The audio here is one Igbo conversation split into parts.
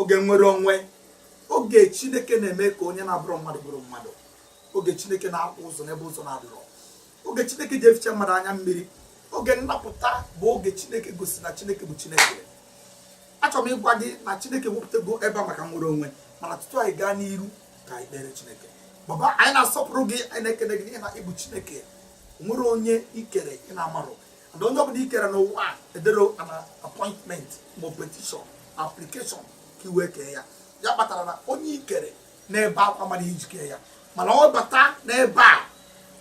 oge nnwere onwe oge chineke na-eme ka onye na-abụrọ mmadụ bụrụ mmadụ oge chineke na-akpụ ụzọ n'ebe ụzọ na-adịrọ oge chineke ji eficha mmadụ anya mmiri oge nnapụta bụ oge chineke gosi na chineke bụ chineke achọrọ m ịgwa gị na chineke wepụtago ebe a maka nnwere onwe mana tutu anyị gaa n'iru ka anyị kpere chineke baba anyị na-asọpụrụ gị anyị na-ekele gị na ị bụ chineke o nwerọ onye i kere ị na-amarọ na onye ọbụla i kere n'ụwa a ederọ an appointment ma petition application ka i wee kee ya ya kpatara na onye i kere n'ebe akwa mara i ji kee ya mana ọ bata n'ebe a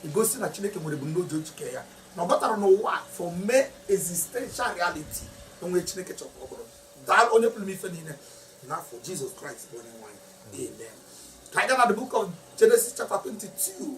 egosi na chineke nwere ebumnobi o ji kee ya na ọ batara n'ụwa a for mee existential reality o nwe chineke chọrọ ka ọ bụrụ daa onye pụrụ ime ife niile n'afa jizọs kraịst bụ onye nwe anyị amen ka anyị gaa na the book of genesis chapter 22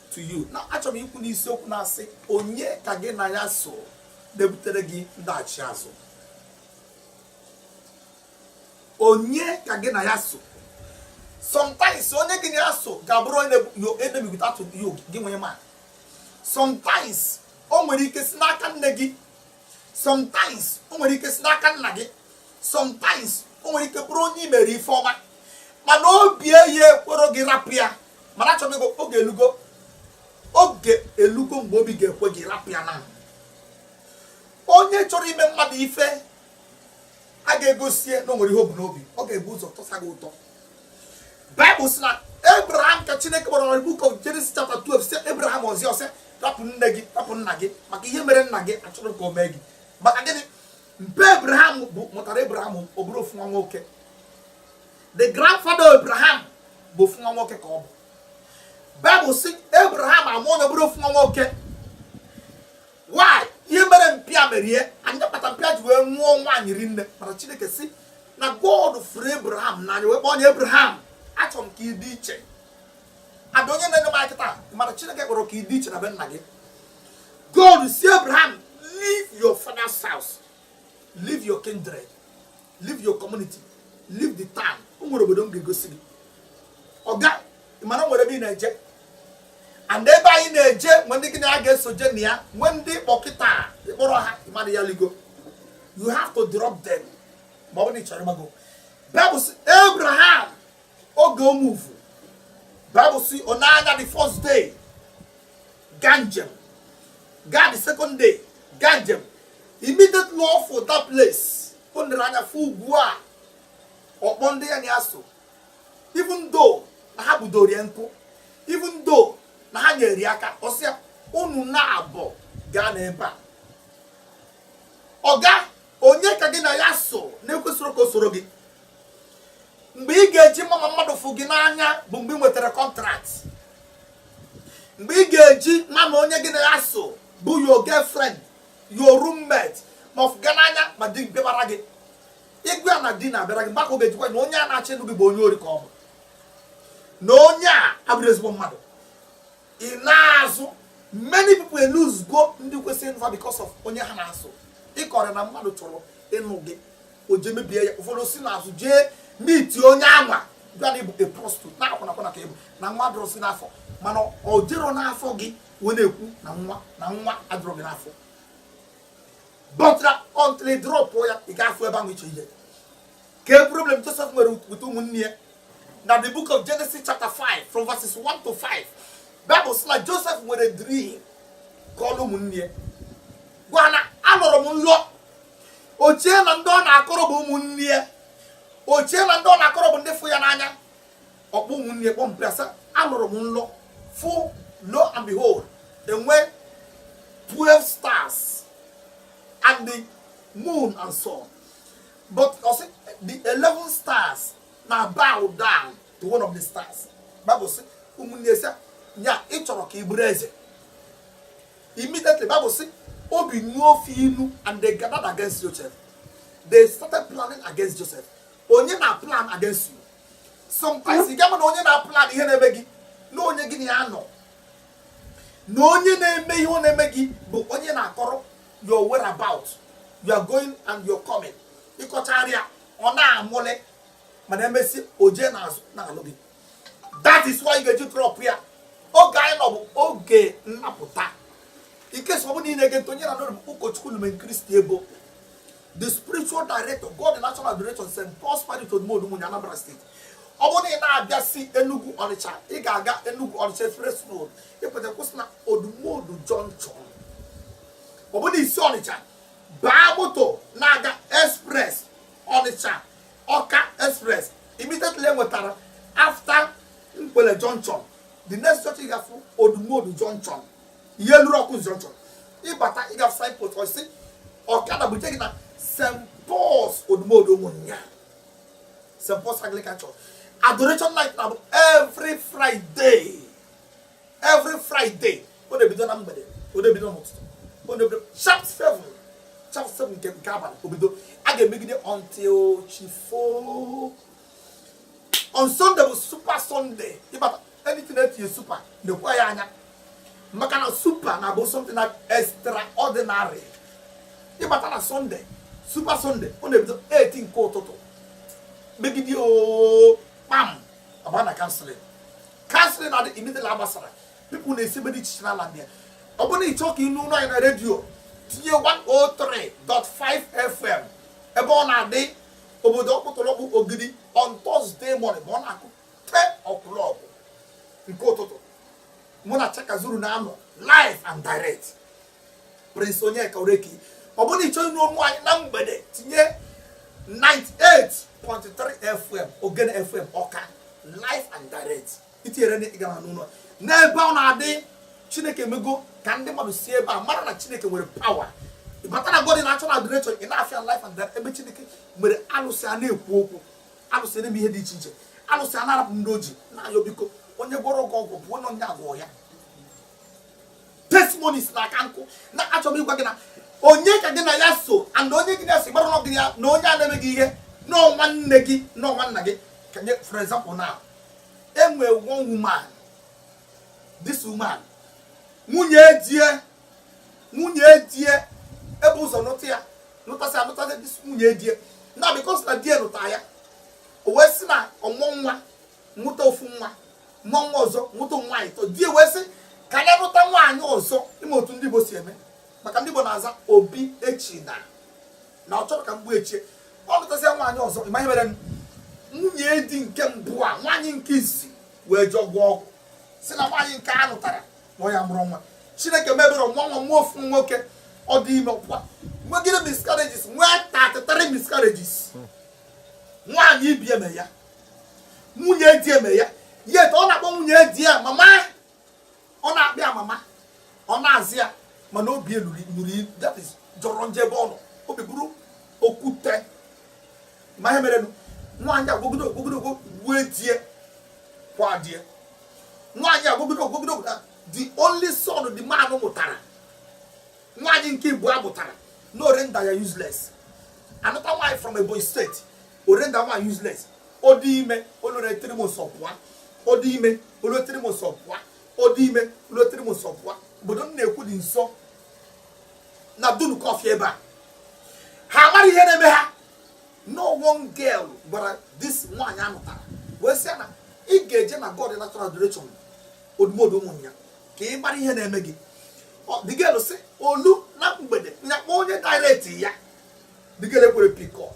to you now achọrọ m ikwu n'isiokwu na-asị onye ka gị na ya so na-ebutere gị ndaghachi azụ onye ka gị na ya so sometimes onye gị na ya so ga-abụrụ your enemy without gị nwa ịma sometimes o nwere ike si n'aka nne gị sometimes o nwere ike si n'aka nna gị sometimes o nwere ike bụrụ onye i mere ife ọma mana obi gị ekwerọ gị rapụ ya mana achọrọ m oge elugo oge elugo mgbe obi ga-ekwe gị rapụ ya na onye chọrọ ime mmadụ ife a ga-egosie na o nwere ihe o bu n'obi ọ ga-ebu ụzọ tọsa gị ụtọ baịbụl sị na abraham ka chineke gwara na book of Genesis chapter 12 sị abraham ọzi ọsị rapụ nne gị rapụ nna gị maka ihe mere nna gị achọrọ m ka o mee gị maka gịnị mpa abraham bụ mụtara abraham ọ bụrụ ofu nwa nwoke the grandfather of abraham bụ ofu nwa nwoke ka ọ bụ baịbụl sị abraham amụọ nwa ọ bụrụ ofu nwa nwoke why ihe mere mpa ya merie ya ya kpata mpa ya ji wee nụọ nwaanyị rinne mana chineke sị na god fụrụ abraham n'anya wee kpọọ onye abraham achọrọ m ka ị dị iche ada onye na-enye m akịta mana chineke chọrọ ka ị dị iche na be nna gị God sị Abraham, leave your father's house, leave your kindred, leave your community, leave the town. O nwere obodo m ga-egosi gị. Ọga, ị ma na o nwere ebe ị na-eje. And ebe anyị na-eje, nwe ndị gị na ya ga-eso je na ya, nwe ndị ị kpọ kịta ị kpọrọ ha ịmara ya ligo. You have to drop them. Ma ọ bụ na ị chọrọ ịgbago. Bible sị Abraham oge o move. Bible sị ọ na-aga the first day. gaa njem gaa the second day gaa njem immediately ọ fụ that place o nere anya fụ ugwu a ọ kpọọ ndị ya na ya so even though na ha budoro ya nkụ even though na ha nyere ya aka ọ sị ya unu naabọ ga-anọ ebe a oga onye ka gị na ya so na-ekwesirọ ka o soro gị mgbe ị ga-eji ma ma mmadụ fụ gị n'anya bụ mgbe ị nwetara contract mgbe ị ga-eji ma ma onye gị na ya so bụ your girlfriend your roommate ma ọ fụ gị n'anya ma di bịabara gị ị gwa ya na di na-abịara gị mgbe a ka ọ ga-eji gwa na onye a na-achọ ịnụ gị bụ onye ori ka ọ bụ na onye a abụrọ ezigbo mmadụ ị na-azụ many people elosego ndị kwesịrị ịnụ fa because of onye ha na ya so ị kọọrọ ya na mmadụ chọrọ ịnụ gị o jee mebie ya ụfọdụ si n'azụ jee meet onye anwa gwa ya na ị bụ a prostitute na akwụnakwụna ka ị bụ na nwa adịrọzi n'afọ mana o jerọ n'afọ gị wee na-ekwu na nwa na nwa adịrọ gị n'afọ but until ị drop ya ị ga-afụ ebe ahụ iche ihe kee problem Joseph nwere with ụmụnne ya na the book of Genesis chapter 5 from verses 1 to 5 Bible sị na Joseph nwere dream kọọlụ ụmụnne ya gwa na alọrọ m nlọ o chee na ndị ọ na-akọrọ bụ ụmụnne ya o chee na ndị ọ na-akọrọ bụ ndị fụ ya n'anya ọ kpọọ ụmụnne ya kpọpụta sị alọrọ m nlọ fụ lo and behold e nwee 12 stars and the moon and sun but ọ sị the 11 stars na bow down to one of the stars bible sị ụmụnne ya sị ya ị chọrọ ka ị bụrụ eze Immediately, Bible sị, obi nuo fa inu, and they gathered against Joseph. They started planning against Joseph. Onye na plan against you. Sometimes ị ga-ama na onye na plan ihe na-eme gị na onye gị na ya nọ. Na onye na-eme ihe ọ na-eme gị bụ onye ị na-akọrọ your whereabout. Your going and your coming. Ị kọchara ya ọ na-amụle mana e mesịa o jee n'azụ na-alụ gị. that is why ị ga-eji drop ya oge anyị nọ bụ oge nnapụta in case ọ bụ na ị na-ege ntị onye ị na-anụ olu ya bụ ụkọchukwu lumenchristi eboh the spiritual director god in action adoration st paul's parish odumodu ụmụnya anambra state ọ bụrụ na ị na-abịa si enugu ọnịcha ị ga-aga enugu ọnịcha express road ị pụta kwụsị na odumodu junction ọ bụrụ na i si ọnịcha baa moto na-aga express ọnịcha ọka express immediately i nwetara after nkwele junction the next church ị ga-afụ odumodu junction i lurọ ọkụzụ junction ị bata ị ga-afụ signpost ị sị ọkada buje gị na st paul's odumodu ụmụnya st paul's anglican church adoration night na-abụ every friday every friday ọ na-ebido na mgbede ọ na-ebido n'ụtụtụ ọ na-ebido sharp seven sharp seven nke nke abalị o bido a ga-emegide until chi foo on sunday bụ super sunday ịbata anything e tinye super na-ekwe ya anya maka na super na-abụ something na extraordinary ị bata na sunday super sunday ọ na-ebido 8 nke ụtụtụ megide oo kpam ọ baa na counselling counselling na-adị immediately a gbasara people na-esi ebe dị iche iche na-abịa ọ bụrụ na ị chọọ ka ị nụ olu anyị na redio tinye 103.5 fm ebe ọ na-adị obodo ọkpụtọrọkpụ ogidi on Thursday morning ma ọ na-akụ ten o'clock nke ụtụtụ mụ na Chaka Zuru na-anọ live and direct Prince Onyeka Oreki ọ bụrụ na ị chọọ ịnụ olu m na mgbede tinye 98.3 FM Ogene FM Ọka live and direct itinyere na ị ga na-anụ n'ebe ọ na-adị Chineke mego ka ndị mmadụ si ebe a mara na Chineke nwere power ị bata na God in Action Adoration Nawfia live and direct ebe Chineke mere alụsị a na-ekwu okwu alụsị na-eme ihe dị iche iche alụsị a na-arapụ ndị o ji na-ayọ biko onye gwọrọ ọgwụ ọgwụ bụ onye onye agwọ ya testimonies na aka nkụ na achọrọ m ịgwa gị na onye ka gị na ya so and onye gị na-esi gbara ọgụ ya na onye a na-eme gị ihe na ọ nwanne gị na ọ nwanna gị ka nye for example now e nwee one woman this woman nwunye die nwunye die e bu ụzọ nụta ya nụtasịa nụtasịa this nwunye die na because na die nụta ya o wee sị na ọ mụọ nwa nwụta ofu nwa mụọ nwa ọzọ nwụta ụmụ nwaanyị ịtọ di wee sị ka anyị lụta nwaanyị ọzọ ị ma otu ndị Igbo si eme maka ndị Igbo na-aza Obiechina na ọ chọrọ ka mgbu echie ọ lụtasịa nwaanyị ọzọ ị ma ihe mere nwunye di nke mbụ a nwaanyị nke isi wee jee gwọọ ọgwụ sị na nwaanyị nke a lụtara na ọ ya mụrụ nwa chineke mebere nwa nwa nwa ofu nwoke ọ dị ime ọkwa nwegide miscarriages nwee 33 miscarriages nwaanyị ibe ya mere ya nwunye di ya mere ya yet ọ na-akpọ nwunye di ya mama ọ na-akpọ ya mama ọ na-aza ya mana obi eluri nuri that is jọrọ njọ ebe ọ nọ obi bụrụ okwute ma ihe merenụ nwaanyị agwọgide ọgwụ gwọgide ọgwụ gbue die kwaa die nwaanyị agwọgide ọgwụ gwọgide ọgwụ na the only son the man mụtara nwaanyị nke ịbụa mụtara na ọ render ya useless another nwaanyị from Ebonyi State orenda ma useless odi ime olore tiri mo so pwa odi ime olore tiri mo so pwa odi ime olore tiri mo so pwa obodo m na-ekwu dị nso na dunu kọfị ebe a ha mara ihe na-eme ha no one girl gwara this nwaanyị anụtara wee sị ya na ị ga-eje na god natural adoration odumodu ụmụ ya ka ị mara ihe na-eme gị Ọ- the girl sị olu na mgbede nyakpọ onye direct ya the girl ekwere pick up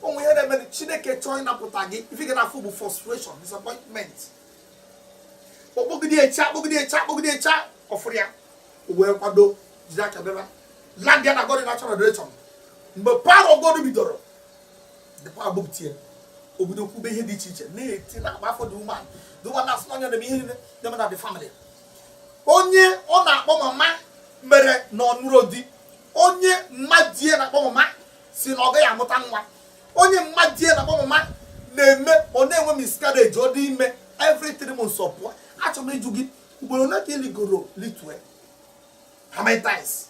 o nwe ihe na-eme chineke chọọ ịnapụta gị ife ị ga na-afụ bụ frustration disappointment ọ kpọgidecha akpọgidecha akpọgidecha ọ fụrọ ya wee kwado jiri aka bịaba landịa na god in action adoration mgbe power of god bidoro dịkwa abụpụtie obodo kwube ihe dị iche iche na-eti na-agba afọ the woman the woman na-asị na ọ nya na ihe niile na-eme na the family onye ọ na-akpọ mama mere na ọ nụrọ di onye mmadie na-akpọ mama sị na ọ gaghị amụta nwa onye mmadie na-akpọ mama na-eme ọ na-enwe miscarriage ọ dị ime every three months ọ pụọ achọrọ m ịjụ gị ugboro ole ka ị ligoro litue how many times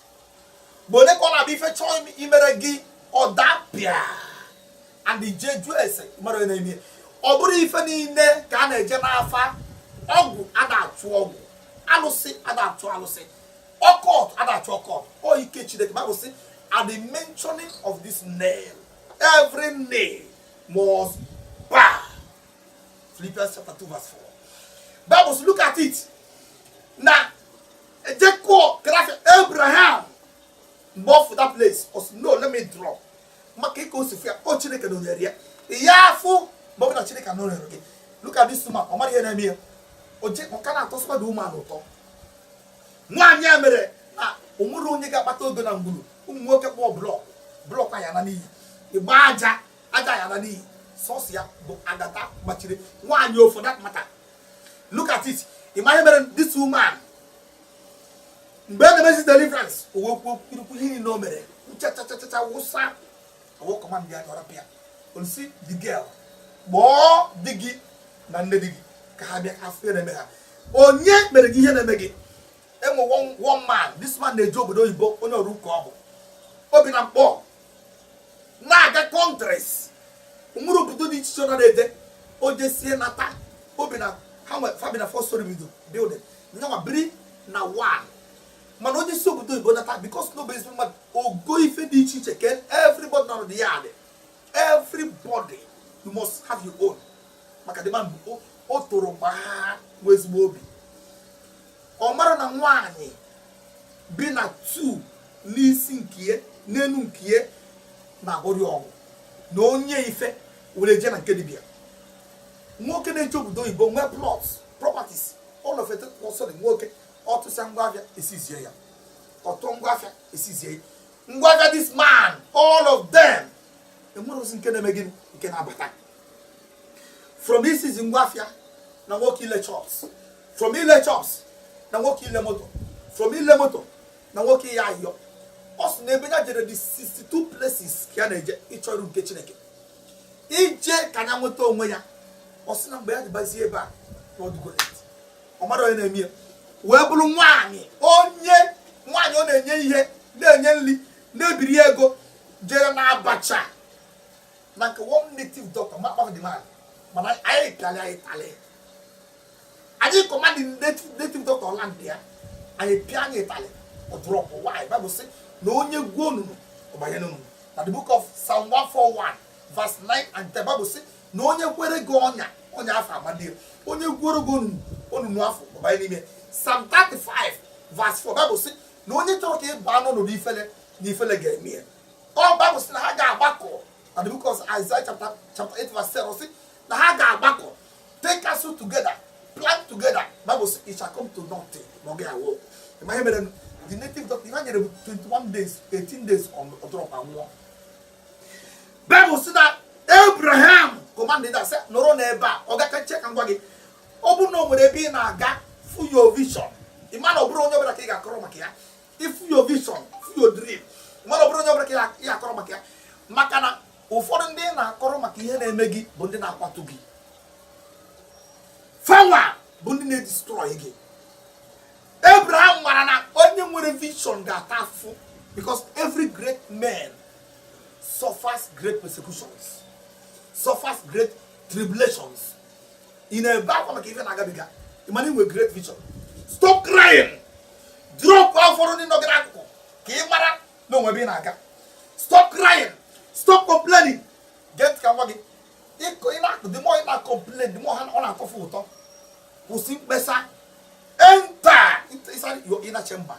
mgbe ole ka ọ na-abịa ife chọọ im- imere gị ọ dapịa and ị jee jụọ ese mara onye na-eme ya. ọ bụrọ ife niile ka a na-eje n'afa ọgwụ ada-achụ ọgwụ alụsị ada-achụ alụsị occult ada-achụ occult ọ ike chineke bible sị at the mentioning of this name every name must bow philippians chapter 2 verse 4 bible sị look at it now jacob grafi abraham mgbe ọ fụ that place ọ sị no let me drop maka ka o si fụ ya ọ chineke nọnyere ya ya afụ mgbe ọ bụla chineke nọnyere gị look at this woman ọ mara ihe na-eme ya o je ọ ka na-atọ sọ ma the woman ụtọ nwaanyị a mere na o nwerọ onye ga-akpata ego na ngwuru ụmụ nwoke kpụọ block block ya ana n'iyi ị gbaa aja aja ya ana n'iyi sọsọ ya bụ agata gbachiri nwaanyị for that matter look at it ị ma ihe mere this woman mgbe a na-emezi deliverance o wee kwuo kwurukwu ihe niile o mere nchachachachacha wụsa e wee command ya chụpụ ya o wee sị the girl kpọọ di gị na nne di gị ka ha bịa fụ ihe na-eme ha onye mere gị ihe na-eme gị e nwe one man this man na-eje obodo oyibo onye ọrụ ụka ọ bụ o bi na nkpor na-aga countries nwere obodo dị iche iche ọ na-eje o jesie nata o bi na ha nwe fa bi na four storey bido building nyanwa biri na one mana onye si obodo oyibo nata because na ọ bụ ezigbo mmadụ ọ go ife dị iche iche ke everybody nọ na the yard everybody you must have your own maka the man o toro gbaa nwee ezigbo obi ọ mara na nwaanyị bi na tu n'isi nkie n'enu nkie na-agwọrị ọgwụ na onye ife were je na nke dibia nwoke na-eje obodo oyibo nwee plots properties all of it nwoke ọ tụsịa ngwa afịa e seize ya ọ tụ ngwa afịa e seize ya ngwa afịa this man all of them e nwerọzi nke na-eme gịnị nke na-abata from iseize ngwa afịa na nwoke ile shops from ile shops na nwoke ile moto from ile moto na nwoke ịyọ ayọ ọ sị na ebe ya jere dị 62 places ka ya na-eje ịchọ iru nke chineke ije ka ya nweta onwe ya ọ sị na mgbe ya ji bịazie ebe a na ọ dịgo late ọ mata onye na-eme ya wee bụrụ nwaanyị onye nwaanyị ọ na-enye ihe na-enye nri na-ebiri ego jere na abacha na nke one native doctor ma kpafuo the man mana anyị talị anyị talị anyị command the native doctor ọ landịa anyị pịanye ịtalị ọ drop why Bible sị na onye gwuo onunu ọ banye n'onunu na the book of psalm 141 verse 9 and 10 Bible sị na onye kwere gị ọnya ọnya afụ amado ya onye gwuoro gị onunu afụ ọ banye n'ime Psalm 35 verse 4 Bible sị na onye chọrọ ka ị baa n'ọnọdụ ifele na ifele ga-eme ya o Bible sị na ha ga-agbakọ na the book of Isaiah chapter chapter 8 verse 7 sị na ha ga-agbakọ take counsel together plan together Bible says it shall come to nothing ma ọ ga-awork ị ma ihe mere the native doctor ihe ha nyere bụ 21 days 18 days ọ drop ma nwụọ Bible says that Abraham commanded sị nọrọ n'ebe a ọga ka nche ka m gwa gị ọ bụrụ na o nwere ebe ị na-aga fụ your vision ị ma na ọ bụrọ onye ọbụla ka ị ga-akọrọ maka ya ị fụ your vision fụ your dream ị ma na ọ bụrọ onye ọbụla ka ị ga-akọrọ maka ya maka na ụfọdụ ndị ị na-akọrọ maka ihe na-eme gị bụ ndị na-akwatu gị fawa bụ ndị na-edestroy gị Abraham mara na onye nwere vision ga-ata afụfụ because every great man suffers great persecutions suffers great tribulations ị na-ebe akwa maka ife na-agabiga ị ma na i nwe great vision stop crying drop ụfọdụ ndị nọ gị n'akụkụ ka ị mara na o nwe ebe ị na-aga stop crying stop complaining gee ntị ka m gwa gị ka m gwa gị the more ị na-akọmplen the more ọ na-atọ fa ụtọ kwụsị mkpesa enter inside your inner chamber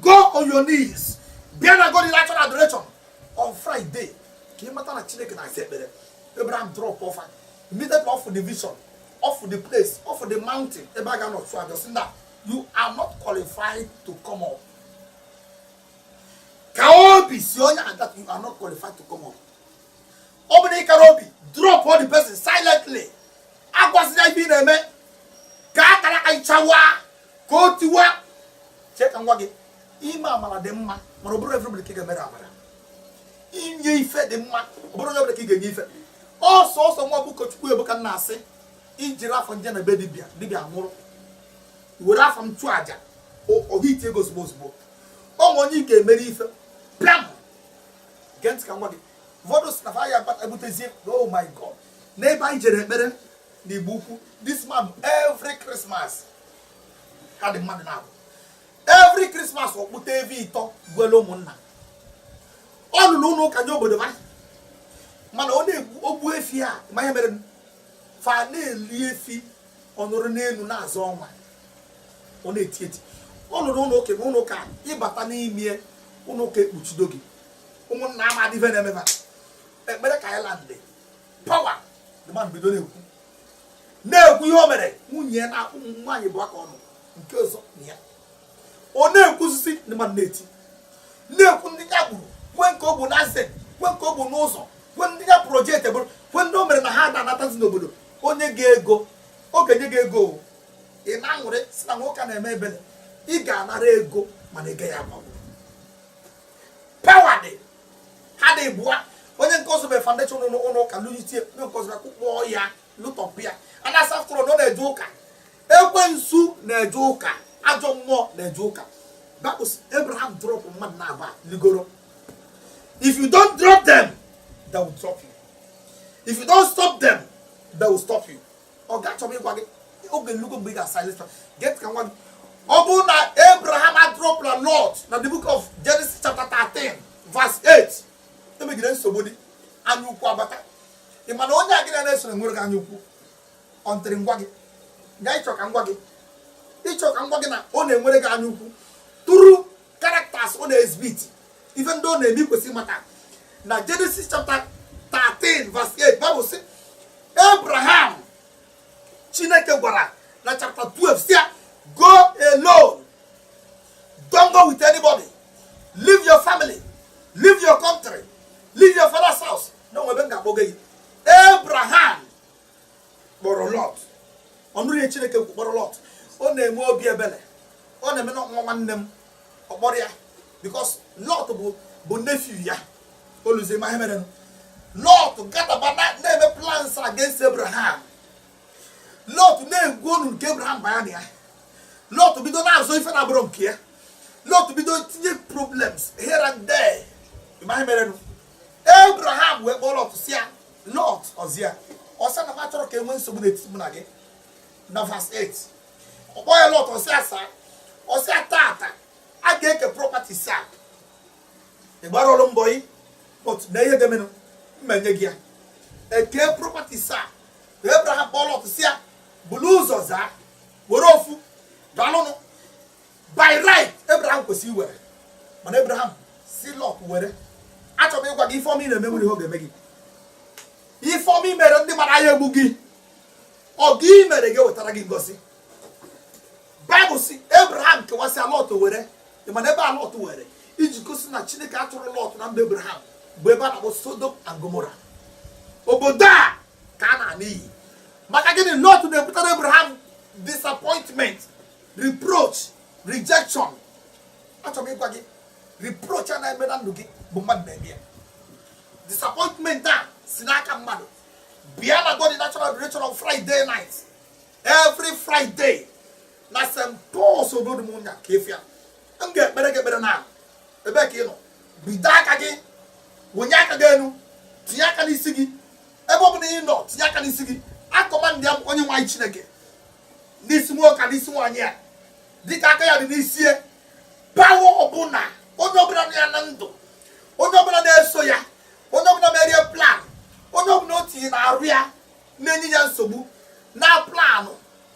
go on your knees bịa na god in action adoration on friday ka ị mata na chineke na-asa ekpere abraham dropụ fa immediately ọ fụ the vision ọ fụ the place ọ fụ the mountain ebe a ga-anọ chụọ aja sị na you are not qualified to come up kaa obi sị onye a that you are not qualified to come up ọ bụrụ na ị karọ obi dropụ the person silently agwazị ya ife ị na-eme ka akara aka ị chawa ka o tiwa chee ka m gwa gị ime amara dị mma mana ọ bụrọ everybody ka ị ga-emere amara inye ife dị mma ọ bụrọ everybody ka ị ga-enye ife ọsọ ọsọ nwa bụ ụkọchukwu ebuka na-asị e jiri afọ m je na be dibịa dibịa nwụrụ were afọ m chụọ aja o hiti ego ozugbo ozugbo o nwee onye ị ga-emere ife pịam gee ntị ka m gwa gị ụfọdụ sị na fa ya akpata ebutezie oh my god n'ebe anyị jere ekpere na igbo ukwu this man every christmas ka dị mmadụ na-abụ every christmas ọ kpụta efi ịtọ gbuele ụmụnna ọ lụrụ ụlọ ụka nye obodo fa mana ọ na-egbu o gbuo efi a ma ihe mere fa na-eli efi ọ nọrọ n'elu na-azọ ọnwa ọ na-eti eti ọ lụrụ ụlọ ụka ma ụlọ ụka ị bata n'ime ụlọ ụka ekpuchido gị ụmụnna amadị ife na-eme fa ekpere ka anyị landị pawa the man bido na-ekwu na-ekwu ihe o mere nwunye na ụmụ nwaanyị bụ aka ọnụ nke ọzọ na ya ọ na-ekwusisi ndị mmadụ na-eti na-ekwu ndị ya gburu kwuo nke o gbu na ase kwuo nke o gbu n'ụzọ kwuo ndị ya projekti gburu kwuo ndị o mere na ha ada anatazi n'obodo o nye gị ego ọ ga-enye gị ego o. ị na-aṅụrị sị na nwoke a na-eme ebele ị ga-anara ego mana ị gaghị agbanwe pawa dị ha dị ịbụa onye nke ọzọ mere foundation ụlọ ụlọ ụka lụnyitie onye nke ọzọ bịa kụkpọọ ya lụtọpụ ya a na-asị after all na ọ na-eje ụka ekwensu na-eje ụka ajọ mmụọ na-eje ụka because abraham drop mmadụ naabọ ligoro if you don't drop them they will drop you if you don't stop them they will stop you ọ ga-achọba ịgwa gị oge elugo mgbe ị ga-asilence gee ntị ka m gwa gị ọ bụrụ na abraham adropla lot na the book of genesis chapter 13 verse 8 immediately nsogbu dị anya ukwu abata ị ma na onye a gị na-esoro nweere gị anya ukwu until m gwa gị ya ị chọ ka m gwa gị ị chọ ka m gwa gị na ọ na-enwere gị anya ukwu through characters ọ na-exhibit ife ndị ọ na-eme i kwesị ịmata na Genesis chapter 13 verse 8 Bible sị abraham chineke gwara na chapter 12 sị ya go alone don't go with anybody leave your family leave your country leave your father's house na o nwe ebe m ga-akpọga gị abraham kpọrọ lọt ọ nụrụ ihe chineke kwu kpọrọ lọt ọ na-enwe obi ebele ọ na-eme na nwa nwanne m ọ kpọrọ ya because lọt bụ nephew ya o luzie ị ma ihe merenụ lọt gatherba na-eme plans against abraham lọt na-egwu onunu ka abraham baya na ya lọt bido na-azọ ife na-abụrọ nke ya lọt bido tinye problems here and there ma ihe merenụ abraham wee kpọọ lọt sị ya Lọt ọ za ya ọ sị ya na m achọrọ ka e nwee nsogbu n'etiti mụ na gị na verse 8 ọ kpọọ ya lọt ọ za ya saa ọ sị ya tata a ga-eke property sị ya ị gbarọlụ m bọyị but ma ihe ga-emenụ m menye gị ya e kee property sịa Abraham kpọọ lọt sị ya bulu ụzọ zaa were ofu dalụnụ by right Abraham kwesịrị iwere mana Abraham sị Lọt were achọrọ m ịgwa gị ife ọma ị na-eme enwerọ ihe ọ ga-eme gị ife ọma i mere ndị mmadụ aya egbu gị ọgọ i mere ga-ewetara gị ngozi Bible sị Abraham kewasịa Lọt were mana ebe a Lọt were iji gosi na Chineke achọrọ Lọt na mba Abraham bụ ebe a na-akpọ Sodom and Gomorrah obodo a ka na-ana n'iyi maka gịnị Lọt na-ebutara Abraham disappointment reproach rejection achọrọ m ịgwa gị reproach a na-eme na ndụ gị bụ mmadụ na-eme ya disappointment a si n'aka mmadụ bịa na god natural direction of friday night every friday na st pauls obodo m ụnya ka efi ya m ga-ekpere gị ekpere na ebe ka ị nọ bido aka gị wenye aka gị enu tinye aka n'isi gị ebe ọ bụla ị nọ tinye aka n'isi gị akọmandịa onye nwe anyị chineke n'isi nwoke a n'isi nwaanyị a dịka aka ya dị n'isi ya power ọbụla onye ọbụla nọ ya na ndụ onye ọbụla na-eso ya onye ọbụla merie plan onye ọbụla o tinye n'arụ ya na-enye ya nsogbu na-a plan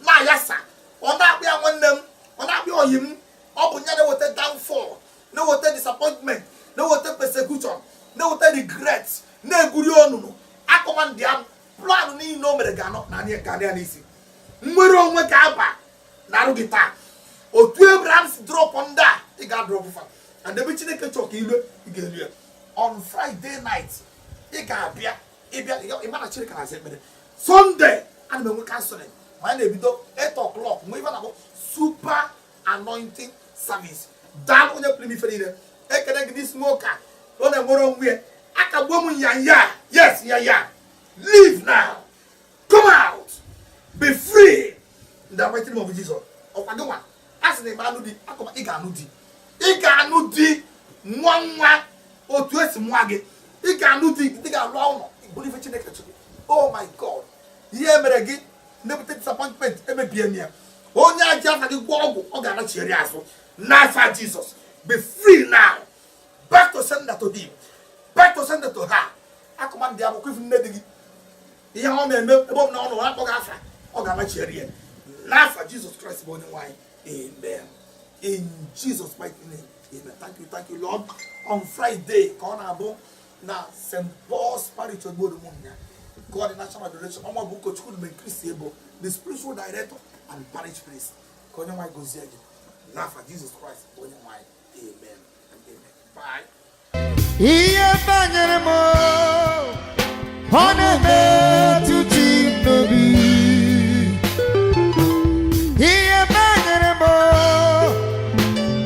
na-ayasa ọ na-akpọ ya nwanne m ọ na-akpọ ya ọyị m ọ bụ ya na-eweta downfall na-eweta disappointment na-eweta persecution na-eweta regret na-egwuri onunu akọmandịa m plan niile o mere ga-anọ na anyị ka ya n'isi nnwere onwe ga-aba n'arụ gị taa otu abraham si drop ndị a ị ga-adrop fa and ebe chineke chọọ ka i lu ị ga-elu ya on friday night ị ga-abịa ị bịa ị ma na chineke na-aza ekpere sunday a na m enwe counselling ma a na-ebido 8 o'clock nwe ife a na-akpọ super anointing service nna onye pụrụ ime ife niile ekele gị n'isi nwoke a ọ na-enwere onwe ya akagbuo m ya ya yes ya ya leave now come out be free in the mighty name of Jesus ọ kwa gị nwa a sị na ị ma anụ di I command ị ga-anụ di ị ga-anụ di mụa nwa otu e si mụa gị ị ga-anụ di ị ga-alụ ụlọ ị bụrụ ife Chineke chọrọ oh my God ihe e mere gị na-ebute disappointment emebie m ya onye ji afa gị gwọ ọgwụ ọ ga-anachigharị azụ n'afa jizọs be free now back to sender to him back to sender to her i command ọ bụ ka ị fụ nne di gị ihe ọ na-eme ebe ọ bụla ọ nọ ọ na-akpọ gị afa ọ ga-anachigharị ya n'afa jizọs kraịst bụ onyenwe anyị amen in jesus mighty name amen thank you thank you lord on friday ka ọ na-abụ na st paul's parish obodo ụmụnya nke ọ dị national adoration ọ mụ bụ ụkọchukwu mgbe chris ebo the spiritual director and parish priest ka onyenwe anyị gozie gị n'afa jizọs kraịst bụ onyenwe anyị amen and amen bye ihe banyere m ọ na-emetụ chi m n'obi ihe